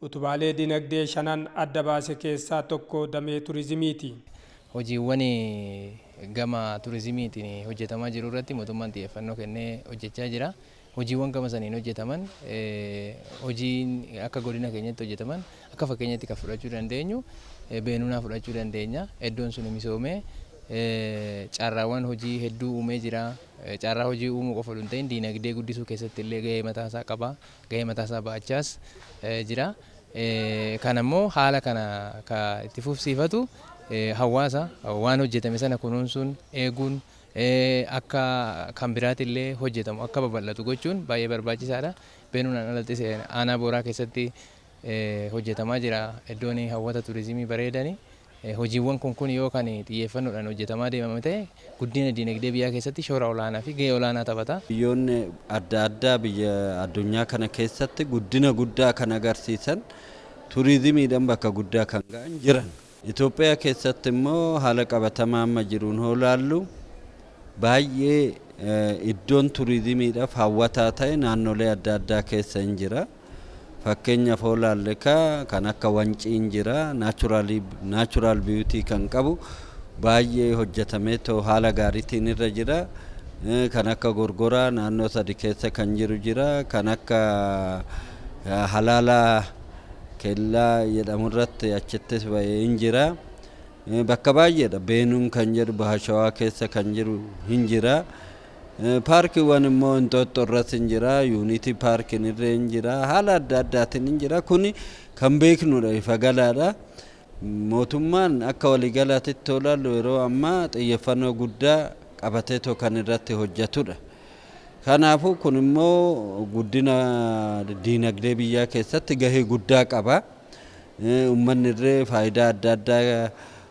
Utubaalee dinagdee shanan adda baase keessaa tokko damee turizimiiti. Hojiiwwan gama turizimiitiin hojjetamaa jiru irratti mootummaan xiyyeeffannoo kennee hojjechaa jira. Hojiiwwan gama saniin hojjetaman hojiin akka godina keenyatti hojjetaman akka fakkeenyatti kan fudhachuu dandeenyu Beenunaa fudhachuu dandeenya. Eddoon suni misoomee carraawwan hojii hedduu uumee jira. Carraa hojii uumuu qofa oduu hin ta'in diinagdee guddisuu keessatti illee gahee mataa isaa qaba. gahee mataa isaa ba'achaas jira. Kana immoo haala kana ka itti fufsiifatu hawaasa waan hojjetame sana kunuunsuun eeguun akka kan biraati illee hojjetamu akka babal'atu gochuun baay'ee barbaachisaadha. Beenuunaan alattis aanaa booraa keessatti hojjetamaa jira iddoon hawwata turizimii bareedani. Hojiiwwan kun kun yoo kan xiyyeeffannoodhaan hojjetamaa deemame ta'e guddina diinagdee biyyaa keessatti shoora olaanaa fi gahee olaanaa taphata. Biyyoonni adda addaa biyya addunyaa kana keessatti guddina guddaa kan agarsiisan turizimiidhaan bakka guddaa kan ga'an jiran. Itoophiyaa keessatti immoo haala qabatamaa amma jiruun hoo laallu baay'ee iddoon turizimiidhaaf hawwataa ta'e naannolee adda addaa keessa hin jira. Fakkeenyaf hoo laalle ka kan akka wanciin jira naturally natural beauty kan qabu baay'ee hojjetameetoo haala gaaritiin irra jira. Kan akka gorgoraa naannoo sadi keessa kan jiru jira. Kan akka halaalaa kellaa jedhamu irratti achittis ba'e hin jira. Bakka baay'eedha. Beenuun kan jedhu Bahashawaa keessa kan jiru hin jira. Paarkiwwan immoo Inxooxxoo irras hin jira, Yuuniitii Paarkiin irree hin jira, haala adda addaatiin hin jira. Kuni kan beeknudha, ifa galaadha. Mootummaan akka waliigalaatitti yoo ilaallu yeroo ammaa xiyyeeffannoo guddaa qabateetoo kan irratti hojjetudha. Kanaafuu kun immoo guddina diinagdee biyyaa keessatti gahee guddaa qaba. Uummanni irree faayidaa adda addaa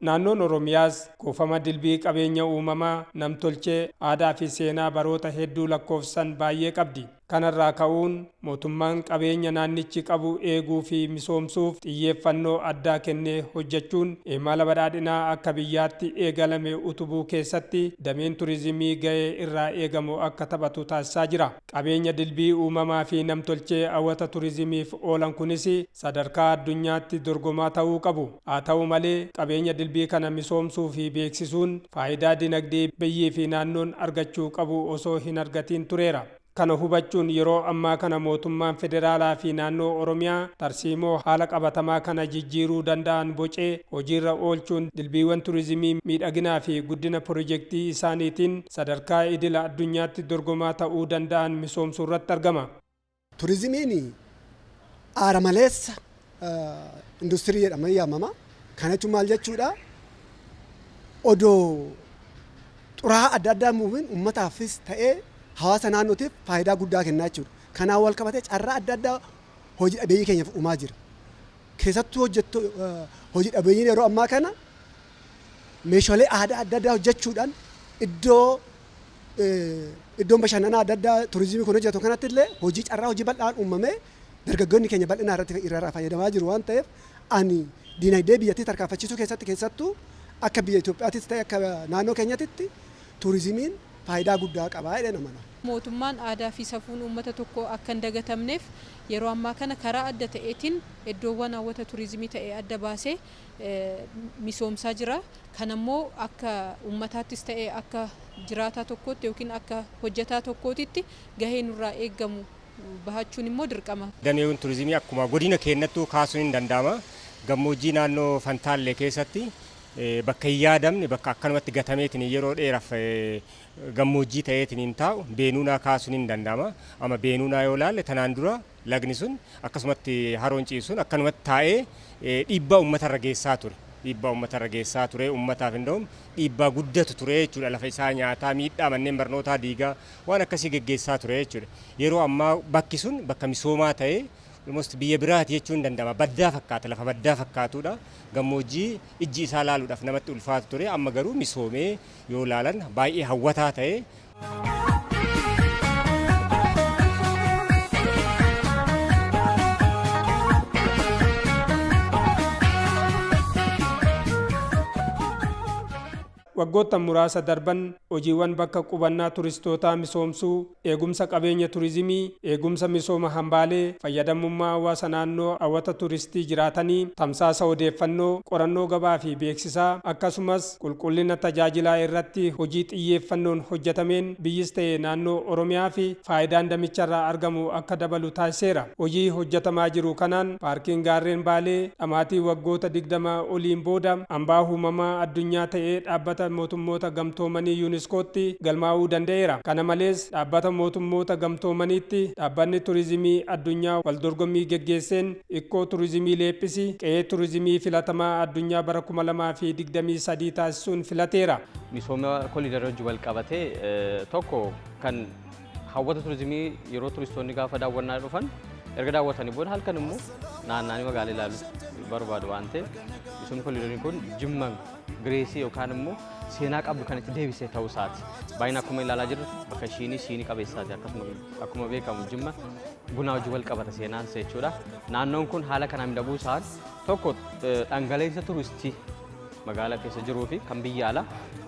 Naannoon Oromiyaas kuufama dilbii qabeenya uumamaa, nam-tolchee, aadaa fi seenaa baroota hedduu lakkoofsisan baay'ee qabdi. Kanarraa ka'uun mootummaan qabeenya naannichi qabu eeguu fi misoomsuuf xiyyeeffannoo addaa kennee hojjechuun imala badhaadhinaa akka biyyaatti eegalame utubuu keessatti dameen turizimii ga'ee irraa eegamu akka taphatu taasisaa jira. Qabeenya dilbii uumamaa fi namtolchee hawata turizimiif oolan kunis sadarkaa addunyaatti dorgomaa ta'uu qabu. Haa ta'u malee, qabeenya dilbii kana misoomsuu fi beeksisuun faayidaa dinagdee biyyii fi naannoon argachuu qabu osoo hin argatiin tureera. Kana hubachuun yeroo ammaa kana mootummaan federaalaa fi naannoo Oromiyaa tarsiimoo haala qabatamaa kana jijjiiruu danda'an bocee hojiirra oolchuun dilbiiwwan turizimii miidhaginaa fi guddina pirojektii isaaniitiin sadarkaa idila addunyaatti dorgomaa ta'uu danda'an misoomsuurratti argama. Turizimiin aara maleessa industirii jedhamee yaamama. Kana jechuun maal jechuudha? Odoo xuraa'aa adda addaa hin buufiin uummataafis ta'ee hawaasa naannootiif faayidaa guddaa kennaa jechuudha. Kanaan wal qabatee carraa adda addaa hoji dhabeeyyii keenyaaf uumaa jira. Keessattuu hojjetto hoji dhabeeyyiin yeroo ammaa kana Meeshalee aadaa adda addaa hojjechuudhaan iddoo iddoon bashannanaa adda addaa turizimii kun hojjetu kanatti illee hojii carraa hojii bal'aan uumamee dargaggoonni keenya bal'inaa irratti irraa fayyadamaa jiru waan ta'eef ani diinagdee biyyattii tarkaanfachiisuu keessatti keessattuu akka biyya Itoophiyaattis ta'e akka naannoo keenyatitti turizimiin faayidaa guddaa qaba jedheen amana. Mootummaan aadaa fi safuun uummata tokkoo akka hin dagatamneef yeroo ammaa kana karaa adda ta'eetiin eddoowwan hawwata turizimii ta'e adda baasee misoomsaa jira. Kana immoo akka uummataattis ta'ee akka jiraataa tokkootti yookiin akka hojjetaa tokkootitti gahee nurraa eegamu bahachuun immoo dirqama. Dameewwan turizimii akkuma godina keennattuu kaasuun ni danda'ama. Gammoojjii naannoo Fantaallee keessatti bakka hin yaadamne bakka akkanumatti gatameetiin yeroo dheeraaf gammoojjii ta'eetiin taa'u Beenuunaa kaasuun ni danda'ama. Amma Beenuunaa yoo ilaalle tanaan dura Lagni sun akkasumatti haroon ciisuun akkanumatti taa'ee dhiibbaa uummatarra geessaa ture. Dhiibbaa uummatarra geessaa ture. Uummataaf indoom dhiibbaa guddatu ture jechuudha. Lafa isaa nyaataa, miidhaa manneen barnootaa diigaa waan akkasii geggeessaa ture jechuudha. Yeroo ammaa bakki sun bakka misoomaa ta'ee almost biyya biraati jechuun danda'ama. Baddaa fakkaata, lafa baddaa fakkaatudha. Gammoojjii ijji isaa laaluudhaaf namatti ulfaatu ture. Amma garuu misoomee yoo laalan baay'ee hawwataa ta'ee waggoottan muraasa darban hojiiwwan bakka qubannaa turistootaa misoomsuu, eegumsa qabeenya turizimii, eegumsa misooma hambaalee, fayyadamummaa hawaasa naannoo hawwata turistii jiraatanii, tamsaasa odeeffannoo, qorannoo gabaa fi beeksisaa, akkasumas Qulqullina tajaajilaa irratti hojii xiyyeeffannoon hojjetameen biyyis ta'e naannoo Oromiyaafi faayidaan damicharraa argamu akka dabalu taasiseera. Hojii hojjetamaa jiru kanaan Paarkiin Gaarreen Baalee dhamaatii waggoota 20 oliin booda Hambaa Huumamaa Addunyaa ta'ee Dhaabbata Mootummoota Gamtoomanii UNESCOtti galmaa'uu danda'eera. Kana malees, Dhaabbata Mootummoota Gamtoomaniitti Dhaabbanni Turizimii Addunyaa waldorgommii geggeesseen Ikkoo Turizimii Leephisi qe'ee turizimii filatamaa addunyaa bara 2023 taasisuun filateera. Misooma koliidarii wajjin walqabatee tokko kan hawwata turizimii yeroo turistoonni gaafa daawwannaa dhufan erga daawwatanii booda halkan immoo naannaanii magaalaa ilaaluu barbaadu waan ta'eef misoomni koliidarii kun jimma Gireesii yookaan immoo seenaa qabdu kan itti deebisee ta'uu isaati. Baay'ina akkuma ilaalaa jirru bakka ishiinii siinii qabeessaati. Akkasuma akkuma beekamu jimma bunaa wajjin wal qabata seenaan isaa jechuudha. Naannoon kun haala kanaan miidhaguu isaan tokko eh, dhangaleessa turistii magaalaa keessa jiruu fi kan biyya alaa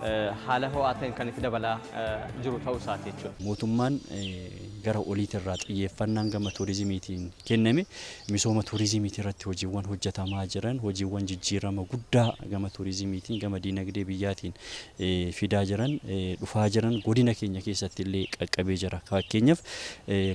eh, haala ho'aa ta'een kan itti dabalaa eh, jiru ta'uu isaati jechuudha. mootummaan eh, gara oliitirraa xiyyeeffannaan gama turizimiitiin kenname Misooma tuurizimiitii irratti hojiiwwan hojjetamaa jiran hojiiwwan jijjiirama guddaa gama tuurizimiitiin gama diinagdee biyyaatiin fidaa jiran dhufaa jiran godina keenya keessatti illee qaqqabee jira. Faakkeenyaf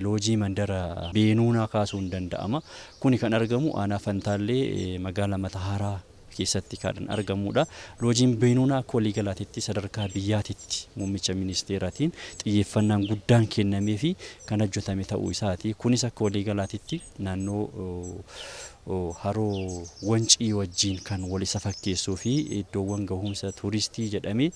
loojii mandara Beenuunaa kaasuun danda'ama. Kuni kan argamu aanaa Fantaallee magaala Matahaaraa keessatti kaadhan argamuudha. Loojiin Beenuunaa akka waliigalaatitti sadarkaa biyyaatitti muummicha ministeeratiin xiyyeeffannaan guddaan kennameefi kan hojjetame ta'uu isaati. Kunis akka waliigalaatitti naannoo haroo Wancii wajjiin kan wal isa fakkeessuu fi iddoowwan gahuumsa tuuristii jedhamee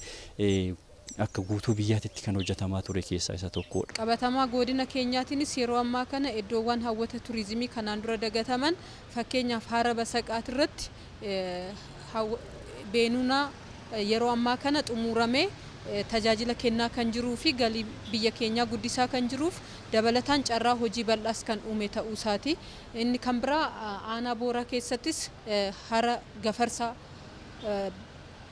akka guutuu biyyaatitti kan hojjatamaa ture keessaa isa tokkoodha. Qabatamaa goodina keenyaatiinis yeroo ammaa kana eddoowwaan hawwata turizimii kanaan dura dagataman fakkeenyaaf Haara Basaqaat irratti Beenunaa yeroo ammaa kana xumuuramee tajaajila kennaa kan jiruu fi galii biyya keenyaa guddisaa kan jiruuf dabalataan carraa hojii bal'aas kan uume ta'uu isaati. Inni kan biraa Aanaa Booraa keessattis Hara Gafarsaa,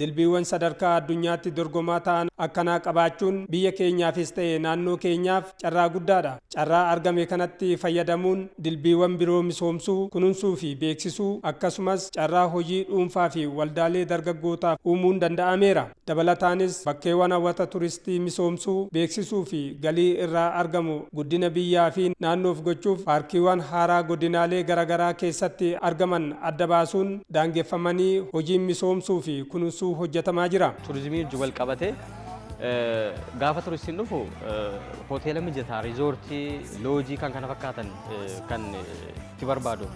Dilbiiwwan sadarkaa addunyaatti dorgomaa ta'an akkanaa qabaachuun biyya keenyaafis ta'e naannoo keenyaaf carraa guddaadha. Carraa argame kanatti fayyadamuun dilbiiwwan biroo misoomsuu, kununsuu fi beeksisuu akkasumas carraa hojii dhuunfaa fi waldaalee dargaggootaaf uumuun danda'ameera. Dabalataanis bakkeewwan hawwata turistii misoomsuu, beeksisuu fi galii irraa argamu guddina biyyaa fi naannoof gochuuf paarkiiwwan haaraa godinaalee garagaraa keessatti argaman adda baasuun daangeffamanii hojiin misoomsuu fi kununsuu hojjetamaa jira. Turizimii wajjin wal qabatee gaafa turistiin dhufu hoteela mijataa, riizoortii, loojii kan kana fakkaatan kan itti barbaadu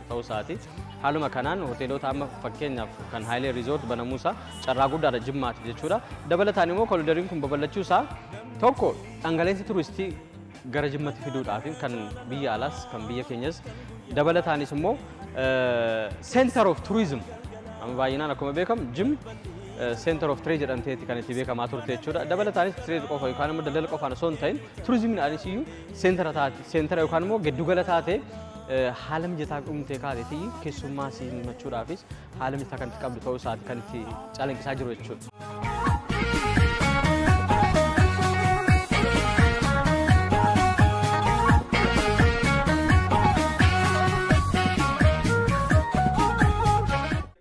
ta'uu isaati. Haaluma kanaan hoteelota amma fakkeenyaaf kan Haayilee Riizoort banamuu isaa carraa guddaadha Jimmaatiif jechuudha. Dabalataan immoo kolidariin kun babal'achuu isaa tokko dhangala'insa turistii gara jimmatti fiduudhaaf kan biyya alaas kan biyya keenyas dabalataanis immoo center of tourism amma baay'inaan akkuma beekamu jim center of trade jedhamteetti kan itti beekamaa turte jechuudha dabalataanis trade qofa yookaan immoo daldala qofaan osoo hin ta'in turizimiin anis iyyuu seentara taate seentara yookaan immoo giddugala taate haala mijataa uumtee kaateetii keessummaa simachuudhaafis haala mijataa kan itti qabdu ta'uu isaati kan itti calanqisaa jiru jechuudha.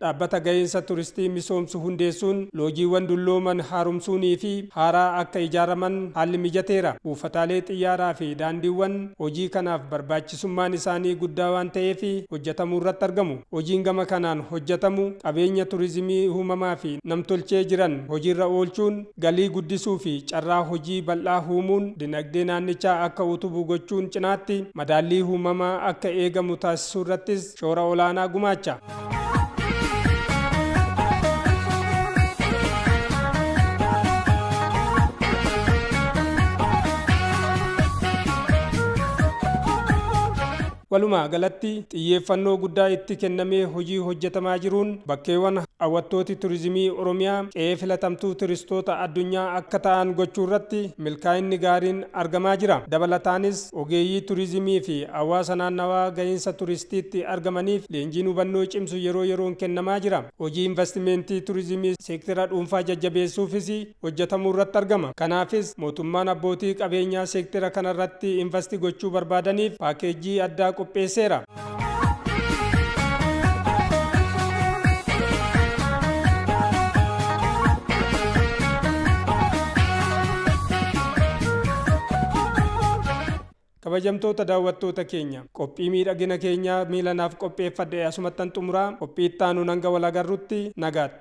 dhaabbata ga'insa turistii misoomsu hundeessuun loojiiwwan dullooman haaromsuunii fi haaraa akka ijaaraman haalli mijateera buufataalee xiyyaaraa fi daandiiwwan hojii kanaaf barbaachisaa barbaachisummaan isaanii guddaa waan ta'eef hojjatamuurratti argamu. Hojiin gama kanaan hojjatamu qabeenya turizimii uumamaa fi namtolchee jiran hojiirra oolchuun galii guddisuu fi carraa hojii bal'aa uumuun dinagdee naannichaa akka utubu gochuun cinaatti madaallii uumamaa akka eegamu taasisuurrattis shoora olaanaa gumaacha. walumaa galatti xiyyeeffannoo guddaa itti kennamee hojii hojjetamaa jiruun bakkeewwan hawwattooti turizimii oromiyaa qe'ee filatamtuu turistoota addunyaa akka ta'an gochuu irratti milkaa'inni gaariin argamaa jira dabalataanis Ogeeyyii Turizimii fi hawaasa naannawaa gahiinsa turistiitti argamaniif leenjiin hubannoo cimsu yeroo yeroon kennamaa jira. Hojii Invastimentii Turizimii seektera dhuunfaa jajjabeessuufis hojjetamuurratti argama. Kanaafis mootummaan abbootii qabeenyaa seektera kanarratti invasti gochuu barbaadaniif paakeejjii addaa qopheesseera. kabajamtoota daawwattoota keenya qophii miidhagina keenyaa miilanaaf qopheeffadhe asumattan xumuraa qophii itti aanuun hanga wal agarrutti nagaatti.